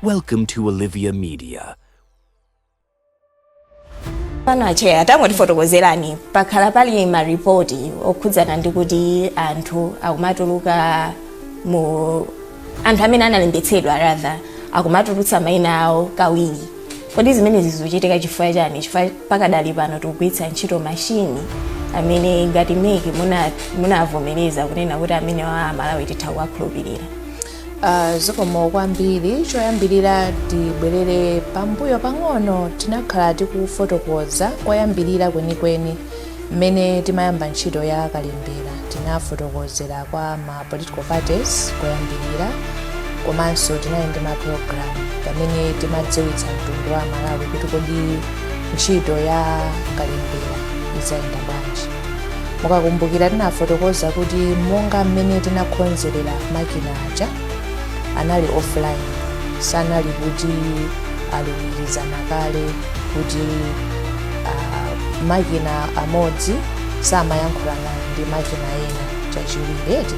Welcome to Olivia Media. pano acheya atangotifotokozera pakhala pali maripoti okhudzana ndi kuti anthu akumatuluka mu anthu amene analembetsedwa rather akumatulutsa maina awo kawiri Kodi zimenezi zikuchitika chifukwa chani? Chifukwa pakadali pano tikugwiritsa ntchito mashini amene ngati mec muna- munavomereza kunena kuti amene aMalawi titha kuwakhulupirira Ah, zikomo kwambiri choyambirira tibwerere pambuyo pang'ono tinakhala tikufotokoza koyambirira kwenikweni Mmene timayamba ntchito ya kalembera tinafotokozera kwa ma political parties koyambirira komanso tinali ndi ma program pamene timadziwitsa mtundu wa aMalawi kuti kodi ntchito ya kalembera izayenda bwanji. Mukakumbukira tinafotokoza kuti monga mmene tinakhonzerera makina aja anali offline sanali kuti alumikizana kale kuti makina amodzi samayankhulana ndi makina ena chachiwiri eti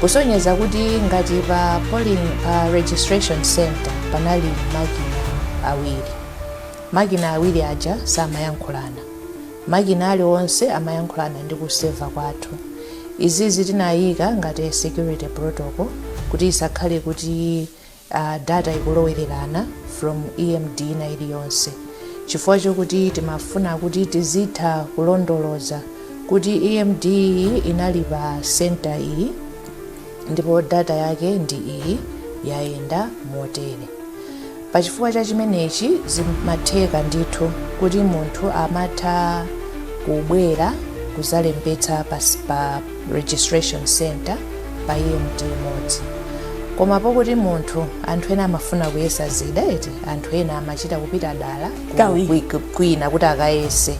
kusonyeza kuti ngati pa polling pa registration center panali makina awiri makina awiri aja samayankhulana makina aliwonse amayankhulana ndi ku server kwathu izizi tinayika ngati security protocol kuti isakhale kuti data ikulowererana from emd ina iliyonse chifukwa chokuti timafuna kuti tizitha kulondoloza kuti emd iyi inali pa center iyi ndipo data yake ndi iyi yayenda motere pachifukwa cha chimenechi zimatheka ndithu kuti munthu amatha kubwera kuzalembetsa pa registration center pa emd imodzi koma pokuti munthu anthu ena amafuna kuyesa zida eti anthu ena amachita kupita dala kwina kuti akayese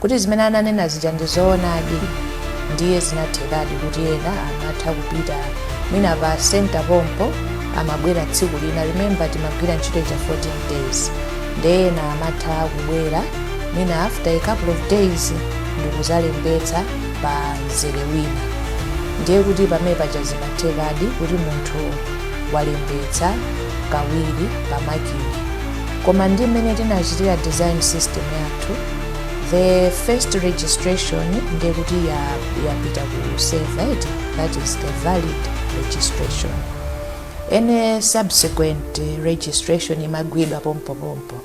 kuti zimene ananena zija ndi zoonadi ndiye zinathekadi kuti ena amatha kupita mwina pa center pompo amabwera tsiku lina remember timagwira ntchito cha 14 days nde ena amatha kubwera mwina after a couple of days ndikuzalembetsa pa mzere wina ndiye kuti pamene paja zimathekadi kuti munthu walembetsa kawiri pa makina koma ndi mmene tinachitira design system yathu the first registration ndiye kuti ya- yapita ku server that is the valid registration any subsequent eh, registration imagwidwa pompopompo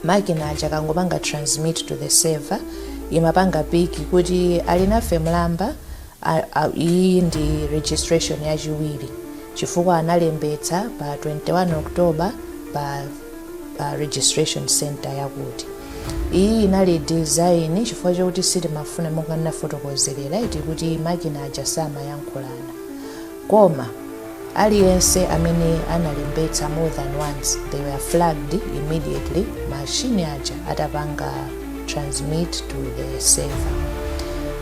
makina aja akangopanga transmit to the server imapanga pick kuti Alinafe Mlamba a- a- iyi ndi registration yachiwiri chifukwa analembetsa pa 21 october pa, pa registration center yakuti iyi inali design chifukwa chokuti sitimafuna monga ndinafotokozerera eti kuti makina aja samayankhulana Koma, aliyense amene analembetsa more than once, they were flagged immediately machine aja atapanga transmit to the server.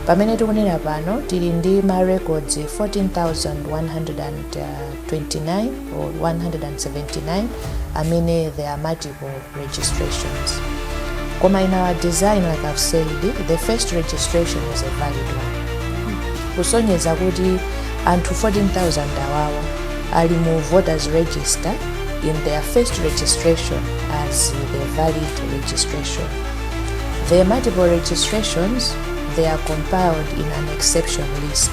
Pamene tikunena pano, tili ndi ma records 14,129 or 179 amene they are multiple registrations. Koma in our design, like I've said, the first registration is a valid one. Kusonyeza kuti anthu 14,000 awawa ali mu voters register in their first registration as the valid registration. The multiple registrations, they are compiled in an exception list.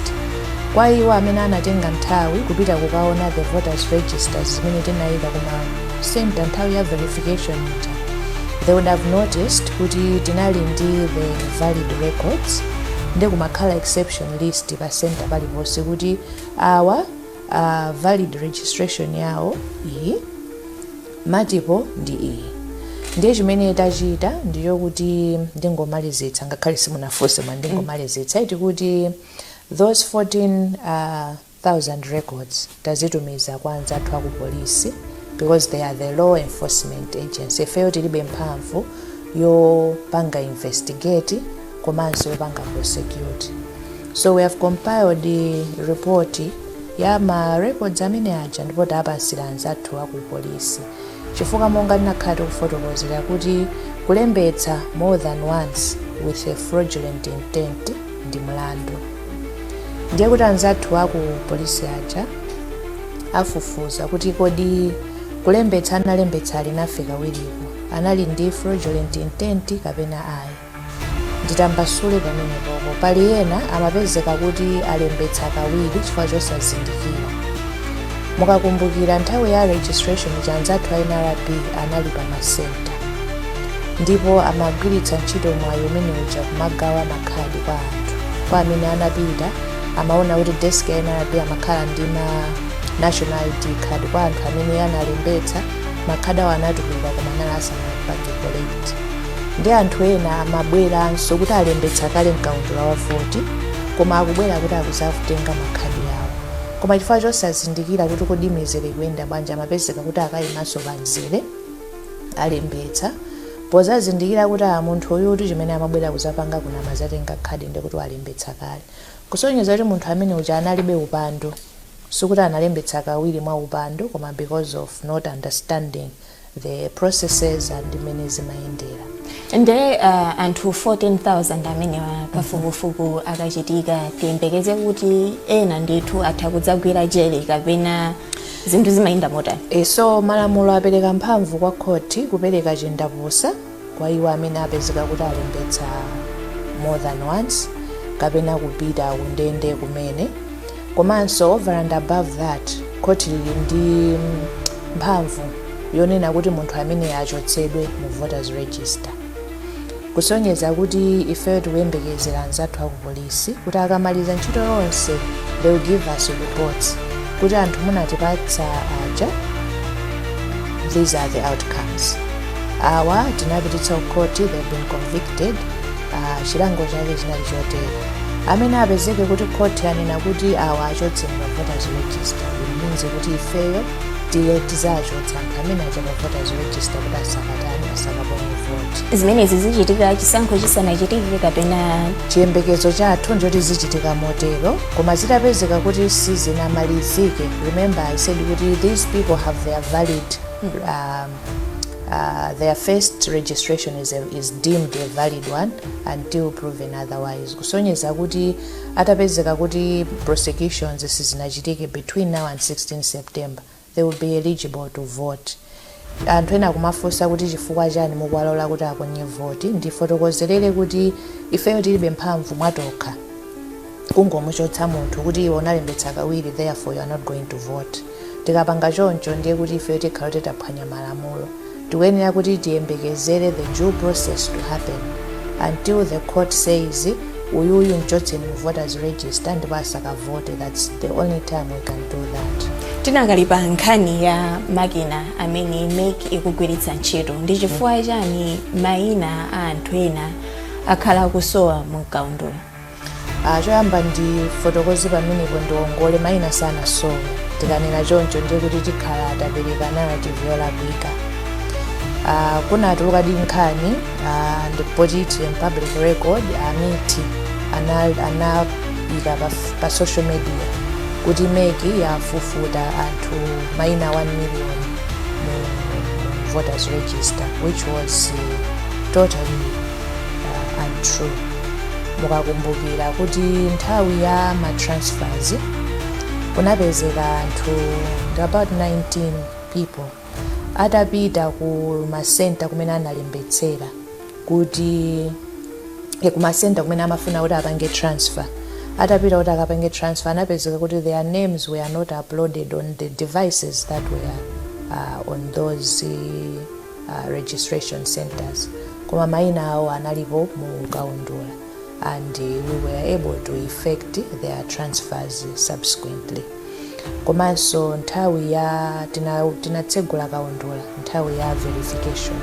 Kwa iwo amene anatenga nthawi kupita kukaona the voters registers zimene tinayika kuma center nthawi ya verification ija they would have noticed kuti tinali ndi the valid records nde kumakhala exception list pa center paliponse kuti awa uh, valid registration yawo iyi multiple ndi iyi ndiye chimene tachita ndicho kuti ndingomalizitsa ngakhale simunafunse mwa ndingomalizitsa eti kuti those 14 uh, thousand records tazitumiza kwa anzathu aku polisi because they are the law enforcement agency ifeyo tilibe mphamvu yopanga investigate komanso yopanga prosecute so we have compiled eh, report ya ma records amene aja ndipo tapatsira anzathu aku polisi chifukwa monga tinakhala tikufotokozera kuti kulembetsa more than once with a fraudulent intent ndi mlandu. Ndiye kuti anzathu a ku polisi aja afufuza kuti kodi kulembetsa analembetsa Alinafe kawiriko anali ndi fraudulent intent kapena ayi. nditambasule pamenepopo pali ena amapezeka kuti alembetsa kawiri chifukwa chosazindikira mukakumbukira nthawi ya registration ija anzathu a nrb anali pa masenta ndipo amagwiritsa ntchito mwayi umene uja kumagawa makhadi kwa anthu kwa amene anapita amaona kuti desk ya nrb amakhala ndi ma national id card kwa anthu amene analembetsa makhadi awo anatuluka koma anali asanapange collect ndi anthu ena amabweranso kuti alembetsa kale mkaundula wa voti koma akubwera kuti akuzatenga makhadi awo koma chifukwa chosazindikira kuti kodi mizere ikuyenda bwanji amapezeka kuti akayimanso pa mzere olembetsa pozazindikira kuti munthu uyu kuti chimene amabwera kuzapanga kuno amazatenga khadi ndi kuti walembetsa kale kusonyeza kuti munthu amene uja analibe upandu sikuti analembetsa kawiri mwa upandu koma because of not understanding the processes and mmene zimayendera nde uh, anthu 14000 amenewa kafukufuku akachitika tiyembekeze kuti ena ndithu atha kudzagwira jele kapena zinthu zimayenda motani so malamulo apereka mphamvu kwa khoti kupereka chindapusa kwa iwo amene apezeka kuti alembetsa more than once kapena kupita kundende kumene komanso over and above that khoti lili ndi mphamvu yonena kuti munthu amene achotsedwe mu voters register kusonyeza kuti ifeyo tikuyembekezera anzathu akupolisi isi kuti akamaliza ntchito yonse they will give us reports kuti anthu munatipatsa aja these are the outcomes awa tinapititsa kukoti they've been convicted uh, chilango chake chinali chotere amene apezeke kuti khoti yanena kuti awa achotse mu voters register it means kuti ifeyo nde tizachotsa anthu amene aja mu voters register kuti asakatani asakaponye voti zimenezi zichitika chisankho chisanachitike kapena chiyembekezo chathu ndichoti zichitika motero koma zitapezeka kuti sizinamalizike remember i said kuti these people have their valid um, uh, their first registration is, a, is deemed a valid one until proven otherwise kusonyeza kuti atapezeka kuti prosecutions sizinachitike between now and 16 September they will be eligible to vote. Anthu ena akumafunsa kuti chifukwa chani mukuwalola kuti aponye voti, ndifotokozerere kuti ifeyo tilibe mphamvu mwa tokha kungomuchotsa munthu kuti iwe unalembetsa kawiri therefore you are not going to vote. Tikapanga choncho ndiye kuti ifeyo tikhala kuti taphwanya malamulo. Tikuyenera kuti tiyembekezere the due process to happen. Until the court says uyuyu mchotseni mu voters register ndipo asakavote that's the only time we can do that. Tidakali pa nkhani ya makina amene mec ikugwiritsa ntchito ndi chifukwa chani maina a anthu ena akhala akusowa mu mkaundula? Ah, choyamba ndifotokoze pamenepo ndiwongole maina sanasowe tikanena choncho ndiye kuti tikhala tapereka narrative yolakwika Ah, kunatulukadi nkhani ah, ndipo it is in public record a MEC anayika ana pa, pa social media kuti MEC yafufuta anthu maina 1 million mu voters register which was uh, totally uh, untrue mukakumbukira kuti nthawi ya ma transfers kunapezeka anthudi about 19 people atapita ku masenta kumene analembetsera kuti eh, ku masenta kumene amafuna kuti apange transfer atapita kuti akapange transfer anapezeka kuti their names were not uploaded on the devices that were uh, on those uh, uh, registration centers koma maina awo analipo mu kaundula and we were able to effect their transfers subsequently komanso nthawi ya tina- tinatsegula kaundula nthawi ya verification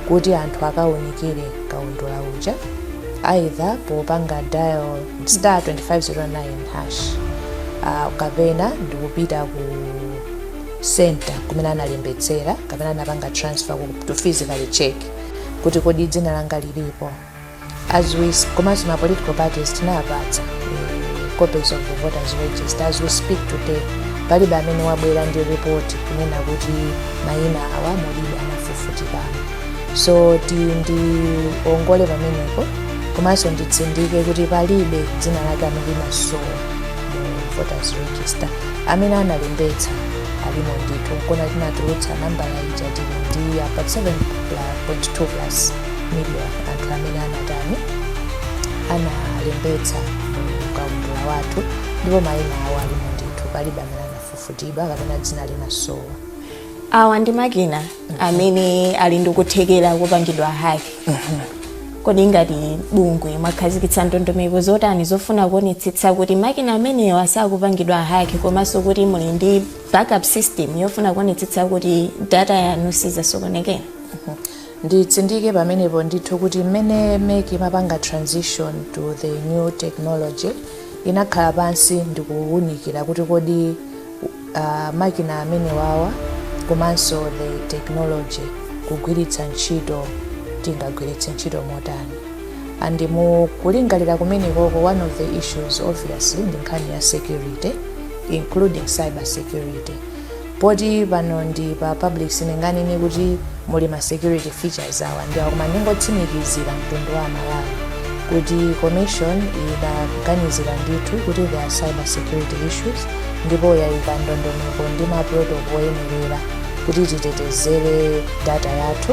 kuti anthu akaunikire kaundula uja either popanga dial star 2509 hash uh, kapena ndikupita ku center kumene analembetsera kapena anapanga transfer ku- to physically check kuti kodi dzina langa lilipo as we s- komanso ma political parties tinawapatsa eh, copies of the voters register as we speak today palibe amene wabwera ndi report kunena kuti mayina awa mulibe anafufutikamo so ndiwongole pamenepo komanso nditsindike kuti palibe dzina lake amene linasowa mu voters register amene analembetsa alimo ndithu nkona tinatulutsa nambala ija tili ndi about 7.2 plus million anthu amene anatani analembetsa mkaundula wathu ndipo mayina awo alimo ndithu palibe amene anafufutidwa kapena dzina linasowa awa ndi makina amene ali ndi kuthekera kopangidwa hack kodi ngati bungwe mwakhazikitsa ndondomeko zotani zofuna kuonetsetsa kuti makina amenewa sakupangidwa hack komanso kuti muli ndi backup system yofuna kuonetsetsa kuti data yanu sidzasokonekera nditsindike pamenepo ndithu kuti mmene mec imapanga transition to the new technology inakhala pansi ndikuwunikira kuti kodi makina amenewawa komanso the technology tikugwiritsa ntchito tingagwiritse ntchito motani and mukulingalira kumenekoko one of the issues obviously ndi nkhani ya security including cyber security poti pano ndi pa public sininganene kuti muli ma security features awa ndi awa koma ndingotsimikizira mtundu wa Malawi kuti commission idaganizira ndithu kuti there are cyber security issues ndipo yaika ndondomeko ndi ma protocol oyenerera kuti titetezere data yathu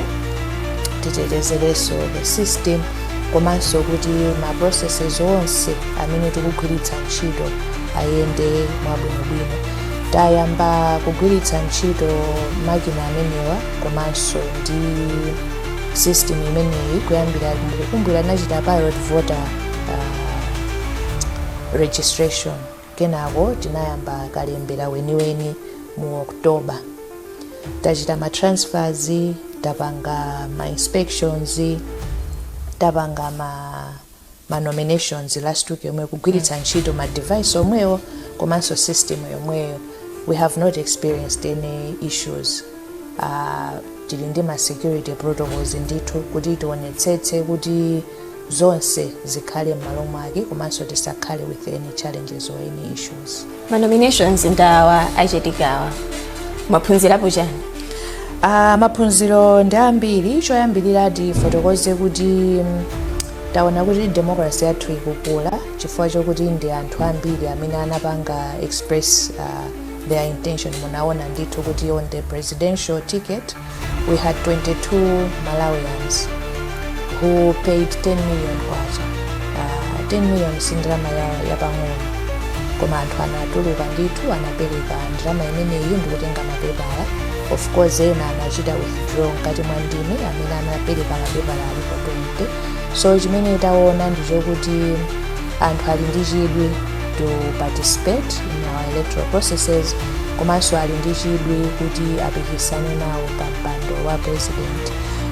titetezerenso the system komanso kuti ma processes onse amene tikugwiritsa ntchito ayende mwabwinobwino tayamba kugwiritsa ntchito makina amenewa komanso ndi system imeneyi kuyambira mukukumbukira tinachita pilot voter uh, registration Kenako tinayamba kalembera weniweni mu October. Tachita ma transfers, tapanga ma inspections, tapanga ma, ma nominations last week yomweyi kugwiritsa ntchito ma device omwewo komanso system yomweyo. We have not experienced any issues. Uh, tili ndi ma security protocols ndithu kuti tionetsetse kuti zonse zikhale m'malo mwake komanso tisakhale with any challenges or any issues ma nominations ndi awa achitikawa mwaphunzirapo chani Ah, maphunziro ndi ambiri choyambirira tifotokoze kuti mm, taona kuti democracy yathu ikukula chifukwa chokuti ndi anthu ambiri amene anapanga express ah, their intention munaona ndithu kuti on the presidential ticket we had 22 Malawians who paid 10 million kwacha uh, 10 million si ndalama ya, yapang'ono koma anthu anatuluka ndithu anapereka ndalama imeneyi ndikutenga mapepala of course ena anachita withdraw mkati mwa ndime amene anapereka mapepala alipo 20 so chimene taona ndi chokuti anthu ali ndi chidwi to participate in our electoral processes komanso ali ndi chidwi kuti apikisane nawo pa mpando wa president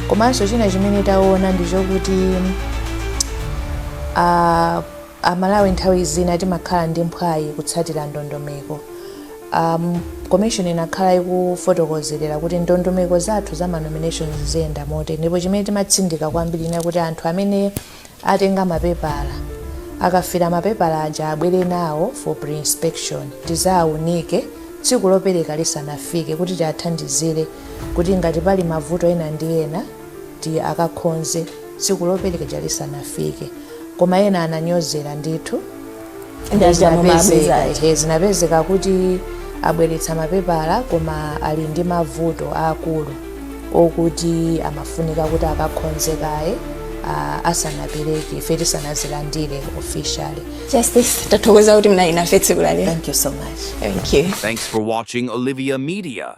komanso china chimene taona ndi chokuti ah, aMalawi nthawi zina timakhala ndi mphwayi kutsatira ndondomeko um, commission inakhala ikufotokozerera kuti ndondomeko zathu za manominations ziyenda motere ndipo chimene timatsindika kwambiri chinali kuti anthu amene atenga mapepala akafila mapepala aja abwere nawo for preinspection tizawaunike tsiku lopereka lisanafike kuti tiathandizire kuti ngati pali mavuto ena ndi ena ti akakhonze tsiku lopereka lisanafike koma ena ananyozera ndithu Nde zinapezeka zimabweza. ehe, zinapezeka kuti abweretsa mapepala koma ali ndi mavuto aakulu okuti amafunika kuti akakhonze kaye ah, asanapereke ife tisanazilandire officially Justice, tathokoza kuti munali nafe tsiku la lero. thank you so much Thank you. Thanks for watching Olivia Media.